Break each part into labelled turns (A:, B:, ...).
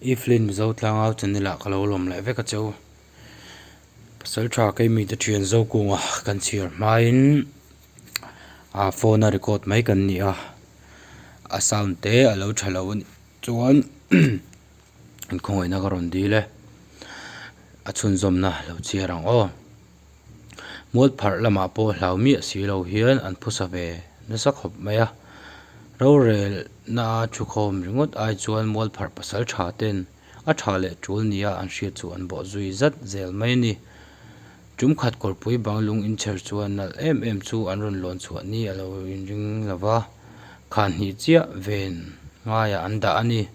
A: Evelyn mizo tlangau channel ah ka lo lawm leh vek a che u. Pasal tha kei mi te thian zo kung ah kan chhiar hma in ah phone a record mai kan ni a, a sound te a lo tha lo a nih chuan in khawngawih na ka rawn dil e. A chhunzawm na lo chiar ang aw. Mualpharh lamah pawh hlau miah si lo hian an phusa ve nasa khawp mai a. Rorelna a thu khawm ringawt ai chuan mualpharh pasal tha ten a tha leh tul nia an hriat chu an bawh zui zat zel mai a ni. Tumkhat kawrpui bang lung inchher chuan nalh em em chu an rawn lawn chhuah ni a lo inring lo va, khan hnih chiah ven ngaiah an dah a ni.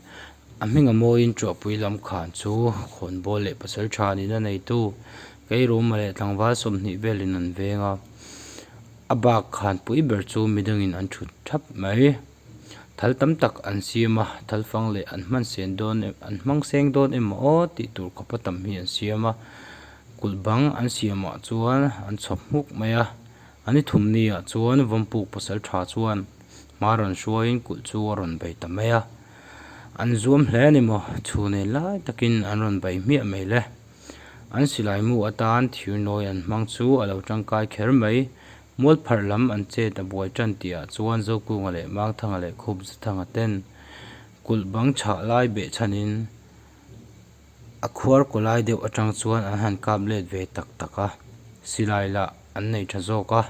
A: A hminga mawiin Chuahpui Lamkhan chu Khawnbawl leh Pasalṭha niin a neitu Keiruma leh Tlangval sawmhnih velin an veng a. A bak khan pui ber chu midangin an ṭhut ṭhap mai. Thal tam tak an siam a, thalfang leh an hmansen dawn em an hmangseng dawn emaw tih tur khawpa tam hi an siam a. Kulh bang an siamah chuan an chhawp hmuk mai a. An i thum ni ah chuan Vampuk Pasalṭha chuan hma rawn hruaiin kulh chu a rawn bei ta mai a. An zuam hle a ni maw? Chhunei lai takin an rawn bei hmiah mai le. An silaimu atan thirnawi an hmang chu a lo tangkai kher mai. Mualpharh lam an chet a buai ṭan tih ah chuan Zokunga leh Mangthanga leh Khupzathanga ten kulh bang chhah lai beh chhan in A khuar kaw lai deuh atang chuan an han kap let ve tak tak a, silai lah an nei tha zawk a,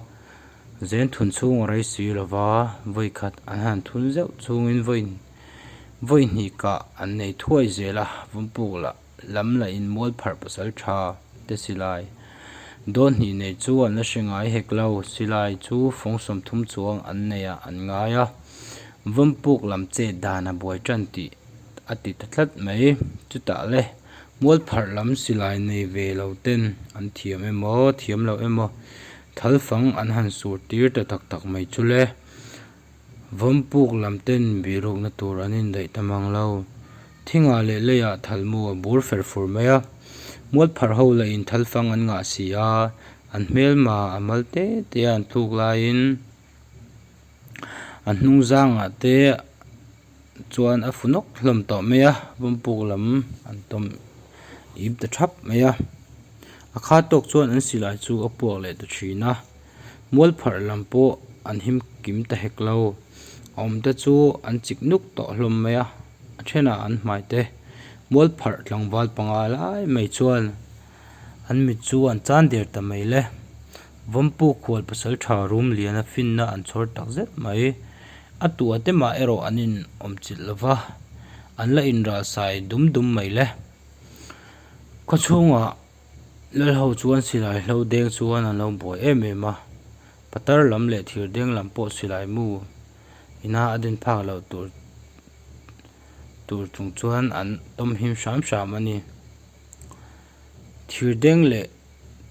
A: zen thun chhung a rei si lo va, vawi khat an han thun zeuh chungin vawi vawi hnih kah an nei thuai zel a, vumpuk lah lam la in mual pharh pasal tha te silai dawn hnih nei chu an la hre ngai hek lo, silai chu fawngsawm thum chuang an nei ah an ngai a, vumpuk lam chet dan a buai tan tih a ti ta tlat mai. Chutah le, mualpharh lam silai nei ve lo ten an thiam em aw, thiam loh em aw, thal fang an han sur tir ta tak tak mai chu le, vampuk lam ten bialrukna tur an indaih ta mang lo. Thingah leh leiah thal mu a bur fer fur mai a, mualpharh ho la in thal fang an ngah si a, an hmelma a mal te te a an tluk laiin, a hnung zangah te chuan a funawk hlawm tawh mai a vampuk lam an tawm ip ta thap mai a a kha tawk chuan an silai chu a puak leh ta thin a mual pharh lam pawh an him kim ta hek lo a awm te chu an chik nuk tawh hlawm mai a a then ah an hmai te mual pharh tlangval panga lai mai chuan-- An mit chu an chan der ta mai le. Vawmpuk khual pasal tha rum liana finna an chhawr tak zet mai. A tuahte mah erawh an inawm chilh lo va, an la inralsai dum dum mai le. Khawchhungah Lalho chuan silai hlo deng chuan an lo buai em em a, Patar lam leh Thirdeng lam pawh silai mu ina a din phak loh tur tur chung chuan an tawm him hram hram a ni. Thirdeng leh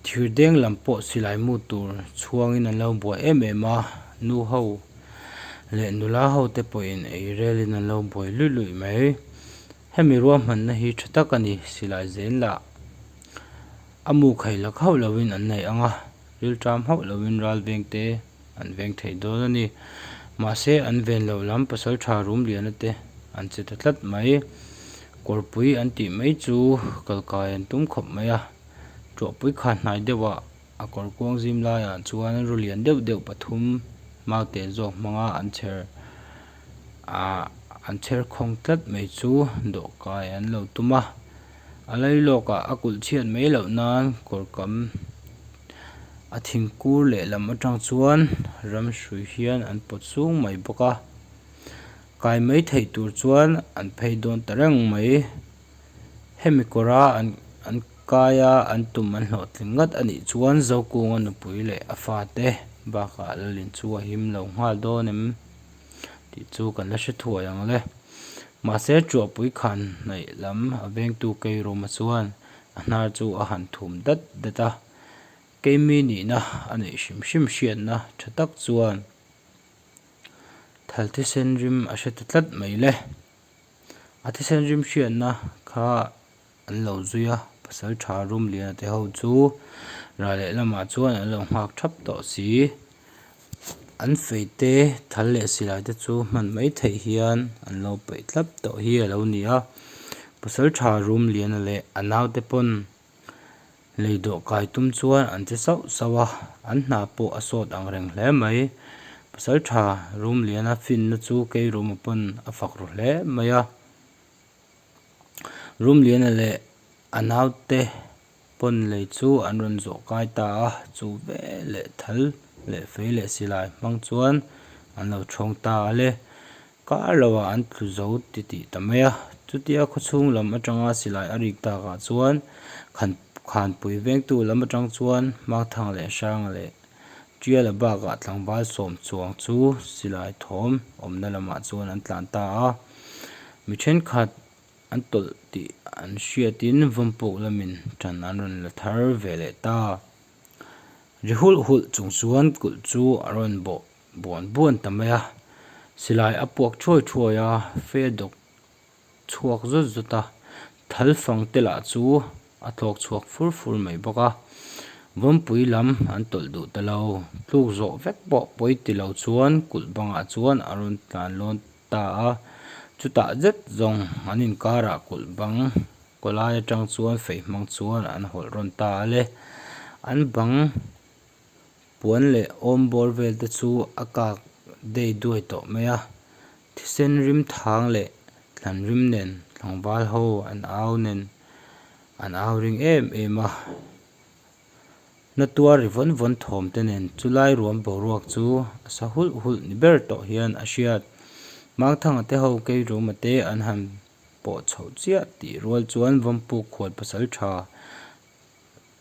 A: thirdeng lam pawh silai mu tur chhuangin an lo buai em em a, nu ho leh nula hote pawhin eirelin an lo buai luih luih mai. Hemi ruahmanna hi tha tak a ni silai zel lah, a mukhaih lak hauh lovin an neih ang a. rilṭam hauh loin ral vengte an veng theih dawn a ni. Mahse, an ven loh lam pasalṭha rum liana te an che ta tlat mai. Kawrpui an tih mai chu kalkai an tum khawp mai a. Ṭuahpui kha hnai deuhah a kawr kuang zim laiah chuan ru lian deuh deuh pathum mau teh zawk hmanga an chher ah an chher khawng tlat mai chu dawhkai an lo tum a. A lailawkah a kulh chhiat mai loh nan kawr kam a thingkur lehlam atang chuan ramhrui hian an pawt sung mai bawk a, kai mai theih tur chuan an phei dawn ta reng mai. Hemi kawra an kai a an tum an hlawh tling ngat a nih chuan Zokunga nupui leh a fate bakah la lin chu a him lo nghal dawn em? tih chu kan la hre thuai ang le mahse Chuahpui khan hnaih lam a vengtu Keirawma chuan a hnar chu a han thum dat dat a, keimi nihna a neih hrim hrim hriatna tha tak chuan thal thisen rim a hre ta tlat mai le. A thisen rim hriatna kha. an lo zui a pasal tha rum liana te ho chu rah leh lamah chuan an lo nghak thap tawh si an feite thal leh silai te chu hman maithei hian an lo paih tlap tawh hi a lo ni a pasal tha rum liana leh a nau te pawn lei dawh kai tum chuan an che sauh sauh a an hna pawh a sawt ang reng hle mai pasal tha rum liana finna chu kei rum ah pawn a fak ru hle mai a. Rumliana leh a naute pawn lei chu an rawn zawh kai ta a, chu ve leh thal leh fei leh silai hmang chuan an lo thawng ta ale. Kar lo ah an tlu zo ti tih ta mai a, chutia khawchhung lam atanga silai a rik tak ah chuan khan khanpui vengtu lam atang chuan hmangthang leh hrang leh. Tial a bakah tlangval sawm chuang chu silai thawm awmna lamah chuan an tlan ta a, mi thenkhat an tawlh tih an hriatin vampuk lamin tan an rawn la thar ve leh ta. Ri hulh hulh chung chuan kulh chu a rawn bawh buan buan ta mai a, silai a puak thuai thuai a, fe dawk chhuak zawt zawt a, thal fang te lah chu a tlawk chhuak fur fur mai bawk a, vawnpui lam an tawlh duh ta lo, tluk zawh vek pawh pawi ti lo chuan kulh bangah chuan a rawn tlan lawn ta a, chutah zet zawng an inkar ah kulh bang kaw lai atang chuan feihmang chuan an hawlh rawn ta ale, an bang. Puan leh awm bawr vel te chu a kak dei duai tawh mai a. Thisen rim thang leh tlan rim nen tlangval ho an au nen an au ring em em a. Hnatua ri vawn vawn thawm te nen chu lai ruam boruak chu a sa hulh hulh ni ber tawh hian a hriat. Mangthanga te ho keiruma te an han pawh chhoh chiah tih rual chuan vampuk khual pasal tha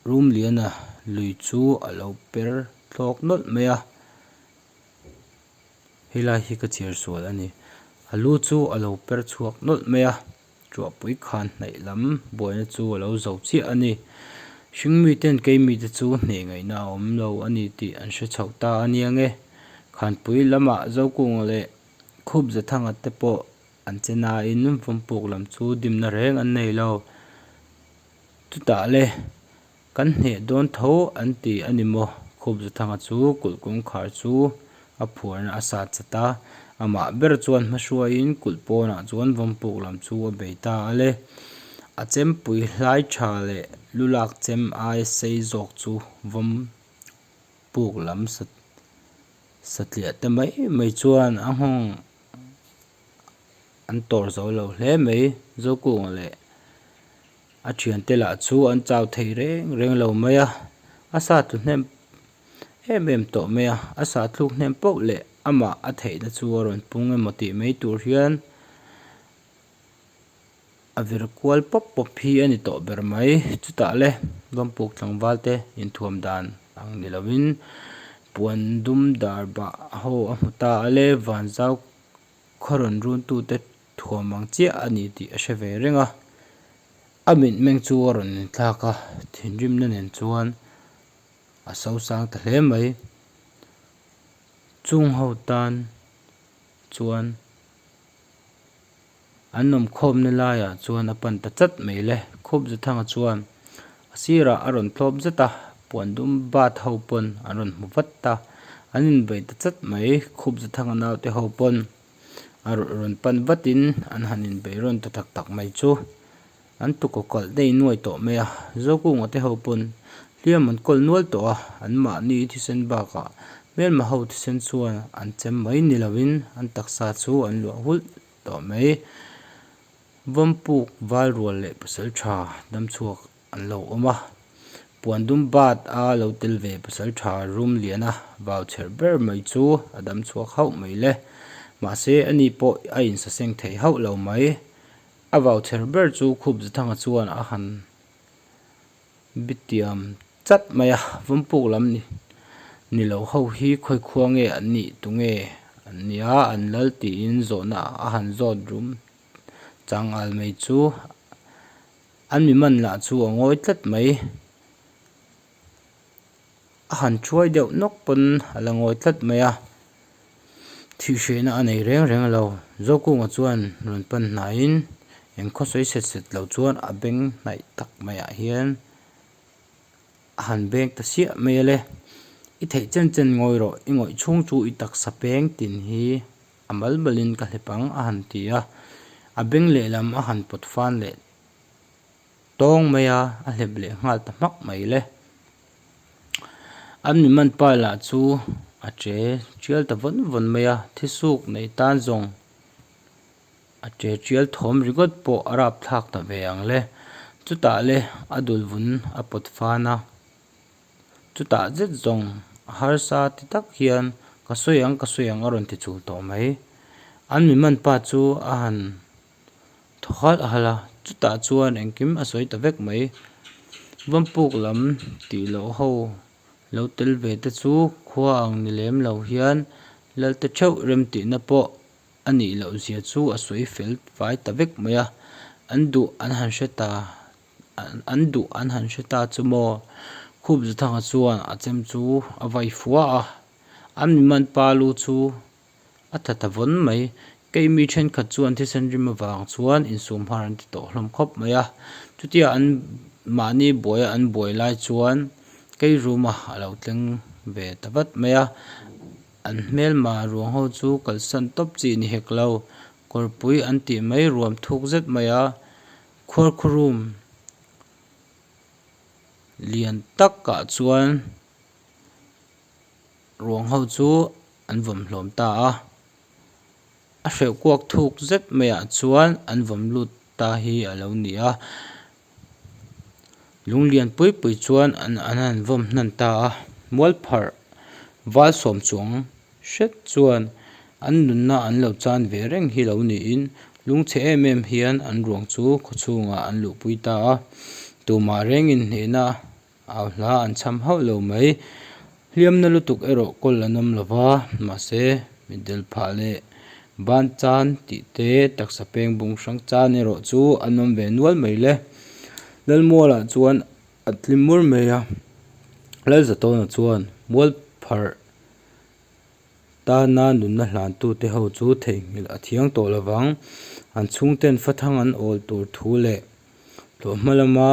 A: Rumliana lui chu a lo per thlawk nawlh mai a, helai hi ka chhiar sual a ni. A lu chu a lo per chhuak nawlh mai a, Ruahpui khan hnaih lam buaina chu a lo zo chiah a ni. Hring mi ten kei mi te chu hneh ngaihna a awm lo a ni tih an hre chhoh ta a nia nge. Khanpui lama Zokung leh Khup Zathanga te pawh an che nain vawnpuk lam chu dimna reng an nei lo. Chutah le, kan hneh dawn tho an ti a ni maw? Khawpzathanga chu kulh kawngkhar chu a phuarna a satchat a, amah ber chuan hmahruaiin kulh pawnah chuan vampuk lam chu a bei ta a le, a chempui hlai tha leh lu lak chem ai sei zawk chu vampuk lam satliahte mai mai chuan a nghawng an tawrh zo lo hle mai zawkung leh a thiante lah chu an chau thei reng reng lo mai a a sa tlu hnem em em tawh mai a a sa thluk hnem pauh leh amah a theihna chu a rawn pung emaw tih mai tur hian-- A vir kual pawp pawp hi a ni tawh ber mai. Chutah le, luanpuk tlangval te inthuam dan ang ni loin, puan dum dar bah ho a hmu ta a le, van zau khaw rawn runtu te thuam ang chiah a ni tih a hre ve reng a. A mit meng chu a rawn inthlak a, thinrimna nen chuan a so sang ta hle mai. Chungho tan chuan. An awm khawmna laiah chuan a pan ta chat mai le. Khawpzathanga chuan a sirah a rawn tlawp zet a, puan dum bat ho pawn an rawn hmu vat a. An invawi ta chat mai, Khawpzathanga naute ho pawn a rawn pan vatin an han invawi rawn ta tak tak mai chu. An tuka kalh daih nuai tawh mai a, Zokung-a te ho pawn hliam an kawl nual tawh a, an mahni thisen bakah hmelma ho thisen chuan an chem mai ni loin an taksa chu an luah hulh tawh mai. Vampuk valrual leh pasaltha dam chhuak an lo awm a, puan dum bat a lo tel ve pasaltha rum liana vau chher ber mai chu a dam chhuak hauh mai le, mahse ani pawh a insaseng thei hauh lo mai. A vau chher ber chu Khup Zathanga chuan a han bitiam chat mai a, Vampuk lam ni ni lo ho hi khawi khua nge an nih tu nge an nia an lal tiin zawhna a han zawt rum chang al mai chu an miman lah chu a ngawi tlat mai. a han thuai deuh nawk pawn a la ngawi tlat mai a, thih hrehna a nei reng reng lo, Zokung a chuan rawn pan hnaiin eng khawsawi set set lo chuan a beng hnaih tak mai ah hian a han beng ta siah mai a le, i theih chen chen ngawi rawh i ngawih chhung chu i taksa peng tin hi a mal malin ka hlepang a han ti a, a beng lehlam a han pawt fan leh. Tawng mai a, a hlep leh nghal ta hmak mai le. An miman pa lah chu a che tial ta vawn vawn mai a, thisuk neih tan zawng a che tial thawm ringawt pawh a rap thlak ta ve ang le. Chutah le a dul vun a pawt fan a, chutah zet zawng harsa ti tak hian ka sawi ang ka sawi ang a rawn ti chul tawh mai. An miman pa chu a han. thawkhalh a hal a, chutah chuan engkim a sawi ta vek mai. Vampuk lam tih loh ho lo tel ve te chu khua ang ni lem lo hian Lalte theuh remtihna pawh a nih loh zia chu a sawi fel fai ta vek mai a, an duh an han hre ta an duh an han hre ta chu maw? Khupzuthanga chuan a chem chu a vai fuah a, an miman pa lu chu. A tha ta vawn mai. Kei mi thenkhat chuan thisen rim avang chuan insum har an ti tawh hlawm khawp mai a. Chutia an mahni buaia an buai lai chuan kei ruma a lo tleng ve ta vat mai a. An hmelma ruang ho chu kalsan tawp chi ni hek lo. Kawrpui an tih mai ruam thuk zet mai a. Khuar khurum lian takah chuan ruang ho chu. an vawm hlawm ta a, a hreuh kuak thuk zet maiah chuan an vawm lut ta hi a lo ni a, lung lian pui pui chuan an an han vawm hnan ta a, mualpharh val sawm chuang hret chuan an nunna an lo chan ve reng hi lo niin lung chhe em em hian an ruang chu khawchhungah an luhpui ta a, tumah reng inhnehna. Au hla an cham hauh lo mai. Hliamna lutuk erawh kawl an awm lo va, mahse, mitdel phah leh ban chan tih te, taksa peng bung hrang chan erawh chu an awm ve nual mai le. Lalmuala chuan a tli mur mai a, Lalzatawna chuan mual pharh tana nunna hlantu te ho chu theihnghilh a thiang tawh lo vang. An chhungten fathang an awl tur thu leh tlawhma lama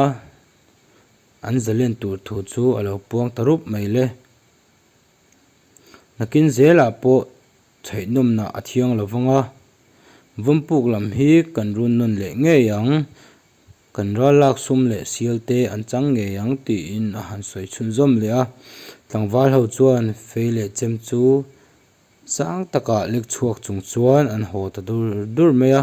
A: an zalen tur thu chu a lo puang ta rup mai le. Nakin zelah pawh chhaihnawmna a thiang lo vang a, vampuk lam hi kan run nawn leh ngei ang, kan ral lak sum leh sial te an chang ngei ang tiin a han sawi chhun zawm leh a. Tlangval ho chuan fei leh chem chu sang takah lek chhuak chung chuan an haw ta dur dur mai a.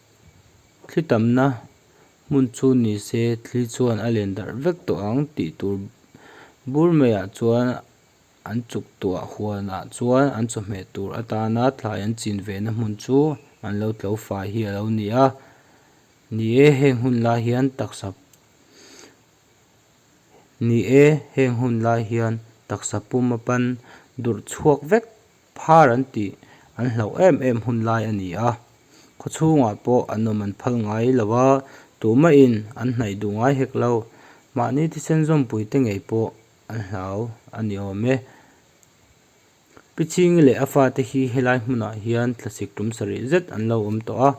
A: Thli tamna hmun chu ni se thli chuan a len darh vek tawh ang tih tur bur mai ah chuan an chuktuah huan ah chuan an chawhmeh tur atana thlai an chin ve na hmun chu an lo tlo fai hi a lo ni a ni e heng hun lai hian taksa ni e heng hun lai hian taksa puma pan durh chhuak vek. Phar an tih an hlauh em em hun lai a ni a, khawchhungah pawh an awm an phal ngai lo a, tumahin an hnaih duh ngai hek lo. Mahni thisen zawmpuite ngei pawh an hlau a ni awm e. Piching leh a fate hi helai hmunah hian tlasik tum sarih zet an lo awm tawh a,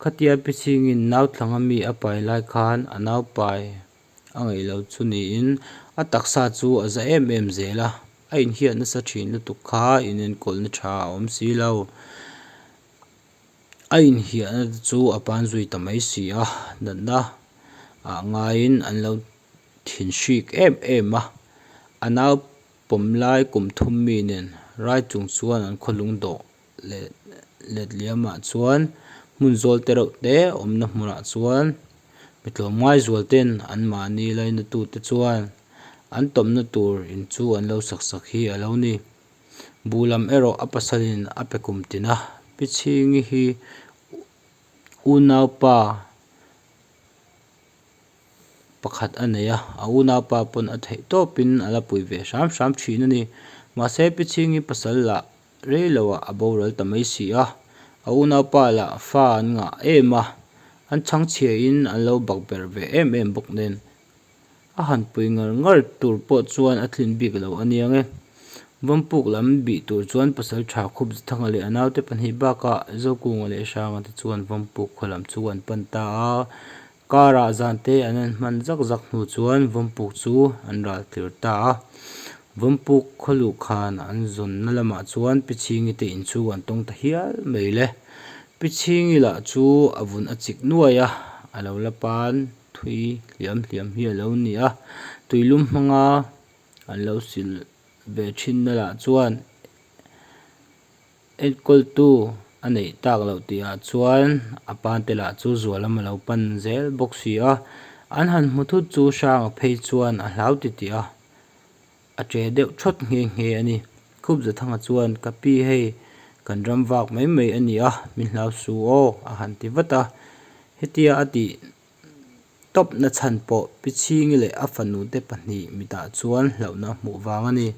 A: khatia Pichingin Nauthlang ami a pai lai khan a naupai A ngaihlo chu niin a taksa chu a za em em zel a, a inhiat nasa thin lutuk kha inenkawl tha a awm si lo. A inhiah na te chu a pan zui ta mai si a, natna ah ngaiin an lo thin hrik em em a. A nau pawm lai kum thum mi nen rai chung chuan an khaw lung dawh leh letliamah chuan hmun zawlte reuh te awmna hmunah chuan mi tlawm ngai zualten anmahni lainatute chuan an tawmna tur in chu an lo sak sak hi a lo ni. Buh lam erawh a pasalin a pe kum tin a, Pichhingi hi unaupa pakhat a nei a, a unaupa pawn a theih tawpin a la pui ve hram hram thin a ni. Mahse Pichhingi pasal lah Rei lo ah a boral ta mai si a, a unaupa lah fa an ngah em a, an chhang chhia in an lo bak ber ve em em bawk nen, a han pui ngar ngar tur pawh chuan a thlin bik lo aniang e. Vampuk lam bih tur chuan pasal tha khup Zathanga leh a naute pahnih bak ah Zokung leh Hranga te chuan Vampuk khualam chu an pan ta a, Karah zan te an en hman zak zak hnu chuan Vawmpuk chu an ral tir ta a. Vawmpuk khaw luh khan an zawnna lamah chuan Pichhingi te in chu an tawng ta hial mai le. Pichhingi lah chu a vun a chik nuai a, a lo la pan thui hliam hliam hi a lo ni a. Tuilum hmanga an lo silh ve thinna lah chuan. Enkawl-tu a neih tak loh tih ah chuan a pa te lah chu zualam a lo pan zel bawk si a, an han hmu thut chu Hranga phei chuan a hlau ti ti a, a che deuh thawt nghe nghe a ni. Khupzathanga chuan ka pi hei kan ram vak mai mai a ni a, min hlau su aw a han ti vat a, hetia a ti tawp na chhan pawh Pichhingi leh a fanu te pahnih mitah chuan hlauhna hmuh vang a ni.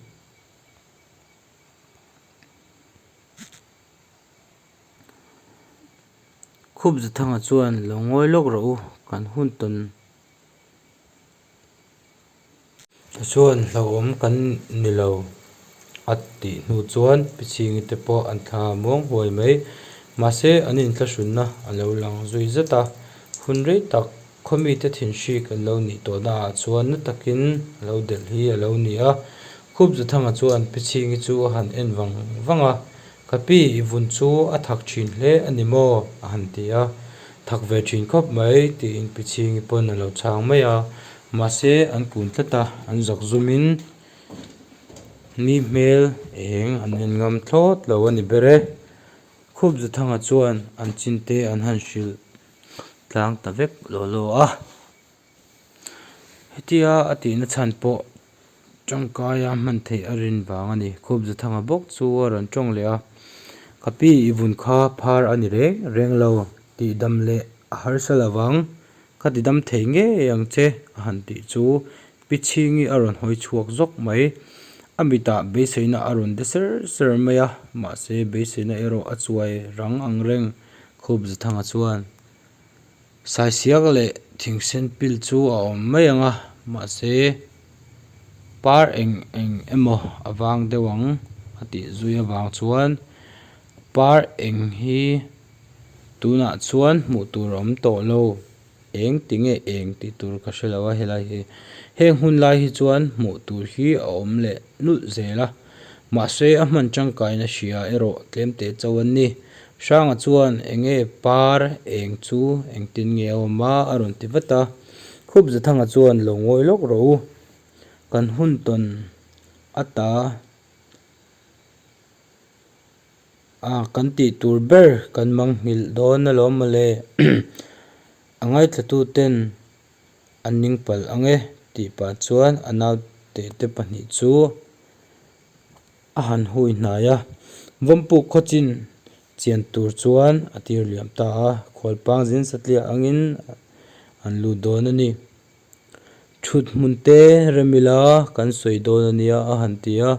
A: Khupzathanga chuan lo ngawi lawk rawh u, kan hun tawn tha chuan hlauhawm kan ni lo a tih hnu chuan Pichhingi te pawh an thla muang huai mai. Mahse an inthlahrunna a lo lang zui zat a, hun rei tak Khaw mite thinhrik an lo nih tawh naah chuan na takin a lo delh hi a lo ni a, Khupzathanga chuan Pichhingi chu a han en vang vang a, Ka pi, i vun chu a thak thin hle a ni maw? a han ti a, Thak ve thin khawp mai, tiin Pichhingi pawn a lo chhang mai a, mahse an kun tlat a, an zak zum in ni hmel eng an en ngam thlawt lo a ni ber e, Khupzathanga chuan an chinte an han hrilh tlang ta vek law law a hetia a tihna chhan pawh tangkaia hman theih a rin vang a ni khup za thanga bawk chu a rawn tawng leh a ka pi i vun kha phar a ni reng reng lo tihdam leh a harsatlo vang ka tidam thei ngei ang che a han tih chu. Pichhingi a rawn hawi chhuak zawk mai. A mitah beiseina a rawn de ser ser mai a, mahse beiseina erawh a chuai rang ang reng. Khup Zathanga chuan, Saisiak leh thingsen pil chu a awm mai ang a, mahse par eng eng emaw a vang deuh ang, a tih zui avang chuan, Par eng hi tunah chuan hmuh tur a awm tawh lo. Eng ti nge eng tih tur ka hre lo a helai hi. Heng hun lai hi chuan hmuh tur hi a awm leh nulh zel a. Mahse a hman tangkaina hria erawh tlem teh chauh an ni. Hranga chuan eng nge par eng chu eng tin nge awm a a rawn ti vat a. Khupzathanga chuan lo ngawi lawk ro u. Kan hun tawn a ta. A, kan tih tur ber kan manghngilh dawn alawm mawle, a ngaithlatuten an ning palh ang e tih pah chuan a nau tehte pahnih chu a han hui hnai a. Vampuk khaw chin chian tur chuan a tir liam ta a, khualpang zin satliah angin an lut dawn a ni. Thut hmun te rem ila kan sawi dawn a nia a han ti a.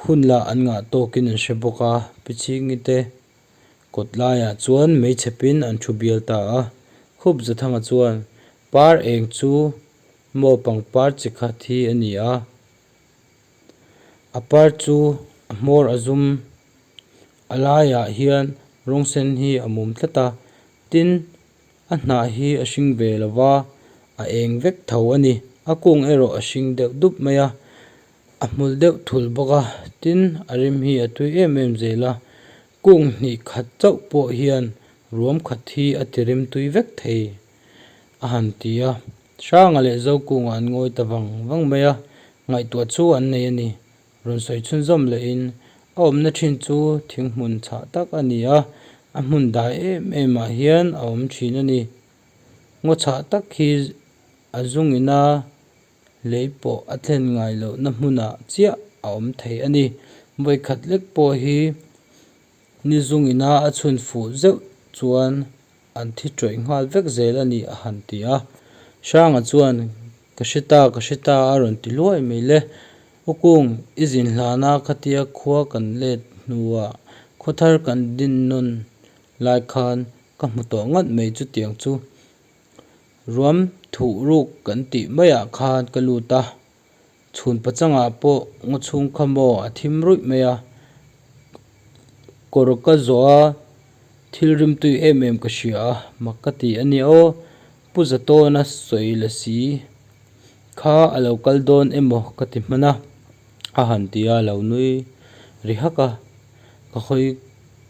A: Hun lah an ngah tawkin an hre bawk a, Pichingii te kawt laiah chuan mei chhepin an thu bial ta a. Khup Zathanga chuan, Par eng chu maw pangpar chi khat hi a ni a, a par chu a hmawr a zum a laiah hian rawng sen hi a mum tlat a, tin A hnah hi a hring ve lo va, a eng vek tho a ni. A kung erawh a hring deuh dup mai a, a hmul deuh thul bawk a. Tin, a rim hi a tui em em zel a. Kung hnih khat chauh pawh hian ruam khat hi a ti rim tui vek thei a han ti a. Hranga leh Zokungah an ngawi ta vang vang mai a, ngaihtuah chu an nei a ni. Rawn sawi chhun zawm lehin a awmna thin chu thing hmun chhah tak a ni a, a hmun dai em emah hian a awm thin a ni. Ngaw chhah tak hi a zungina lei pawh a thlen ngai lohna hmunah chiah a awm thei a ni. Vawikhat lek pawh hi ni zungina a chhunfuh zeuh chuan. An thi ṭawih nghal vek zel a ni a han ti a. Hranga chuan, Ka hre ta, ka hre ta a rawn ti luai mai le. U Kung, i zin hlan a khatia khua kan let hnuah khaw thar kan din nawn lai khan ka hmu tawh nghat mai chutiang chu ruam thuh ruk kan tih maiah khan ka lut a, Chhunpa changah pawh ngaw chhungkha maw a thim ruih mai a, kawr ka zawh a, thil rimtui em em ka hria a, mak ka ti a nia aw, Pu Zatawna sawi la si kha a lo kal dawn emaw ka ti hman a, a han ti a lo nui ri hak a, ka hawi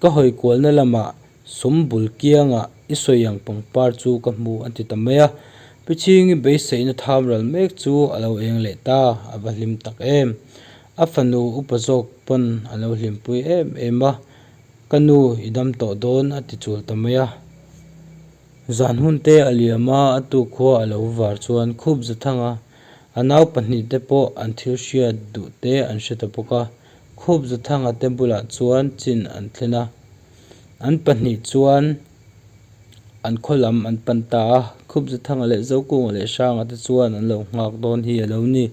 A: ka hawi kualna lamah. Sum bul kiangah i sawi ang pangpar chu ka hmu a ti ta mai a, Piching i beiseihna tham ral mek chu a lo eng leh ta, a va hlim tak em. A fanu upa zawk pawn a lo hlimpui em em a, Ka nu i dam tawh dawn a ti chul ta mai a. Zan hunte a liam a, a tu khua a lo var chuan khup za thang a, a nau pahnih te pawh an thil hriat duh te an hre ta bawk a, khup za thanga te bulah chuan chin an thlen a. An pahnih chuan an khaw lam an pan ta a, Khupzathanga leh Zokunga leh Hranga te chuan an lo nghak dawn hi a lo ni.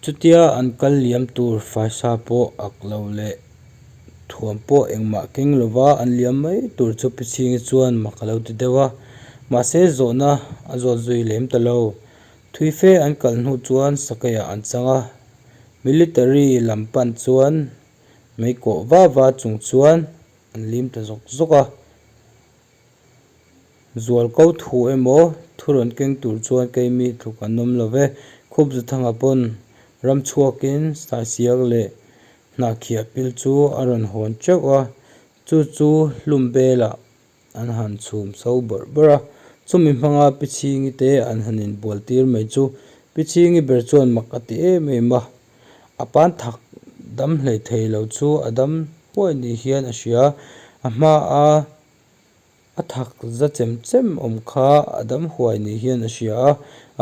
A: Chutia an kal liam tur faisa pawh ak lo leh thuam pawh engmah keng lo va, an liam mai tur chu Pichhingi chuan mak a lo ti deuh a. Mahse zawhna a zawt zui lem ta lo. Thui fe an kalh hnu chuan sakei ah an chang a, Military lam pan chuan mei kawh va va chung chuan an lim ta zawk zawk a, zual ko thu emaw thu rawn keng tur chuan keimi tluk an awm lo ve. Khup za thanga pawn ram chhuak in sai siak leh hnah khiah pil chu a rawn hawn teuh a, chu chu hlum bel ah. an han chhum so bawrh bawrh a, chumi hmanga Pichhingi te an han inbual tir mai chu Pichhingi ber chuan mak a ti em em a, a pan thak dam hlei thei lo chu a dam huai ni hian a hria, a hma a a thak za chem chem awm kha a dam huai ni hian a hria a,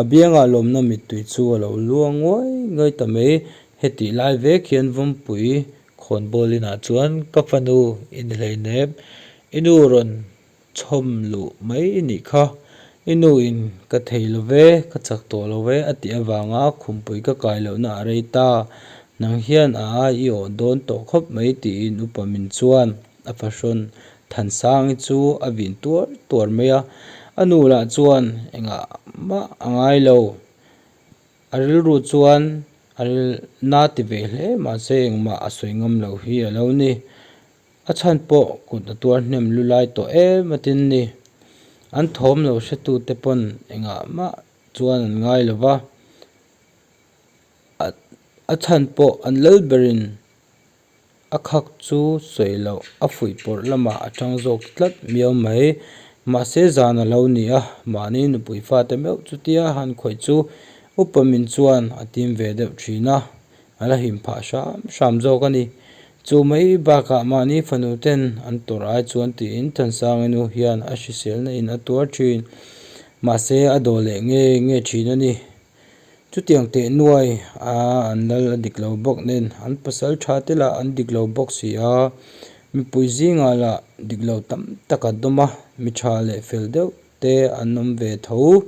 A: a bianga lawmna mittui chu a lo luang uai ngai ta mai, hetih lai vek hian vawmpui Khawnbawlinah chuan ka fanu in hleinem, I nu rawn chhawm luh mai i nih kha, i nu in ka thei lo ve, ka chak tawh lo ve a tih avanga khumpui ka kai lohna a rei ta. Nang hian a ai i awh dawn tawh khawp mai tiin upa min chuan a fahrawn Thansangi chu a vin tuar tuar mai a, a nu lah chuan engah mah a ngai lo. A rilru chuan a ril na ti ve hle mahse engmah a sawi ngam lo hi a lo ni. A chhan pawh kut a tuar hnem lu lai tawh em atin ni. An thawm lo hretu te pawn engah mah chuan an ngai lo va, a chhan pawh an lal berin. a khak chu sawi loh a fuih pawrh lamah a chang zawk tlat miau mai mahse zan a lo ni a mahni nupui fate meuh chutia han khawih chu upa min chuan a tim ve deuh thin a a la him phah hram hram zawk a ni chu mai bakah mahni fanu ten an tawrh ai chuan tiin Thansanga nu hian a hriselna in a tuar thin mahse a daw leh nge nge thin a ni. Chutiang teh nuai a an lal a dik lo bawk nen an pasal tha te lah an dik lo bawk si a, mipui zinga lah dik lo tam tak a dawm a, mi tha leh fel deuh te an awm ve tho.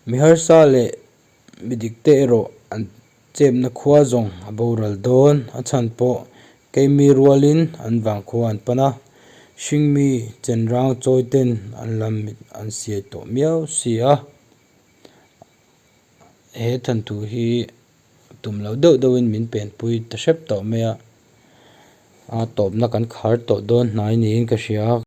A: Mi harsa leh mi dik te erawh an. Chepna khua zawng a boral dawn, a chhan pawh keimi rualin an vang khua an pan a, hringmi chenrang chawite'n an lam mit an siai tawh miau si a, he than thu hi tum lo deuh deuhin min penpui ta hrep tawh mai a, a tawpna kan khar tawh dawn hnai niin ka hria.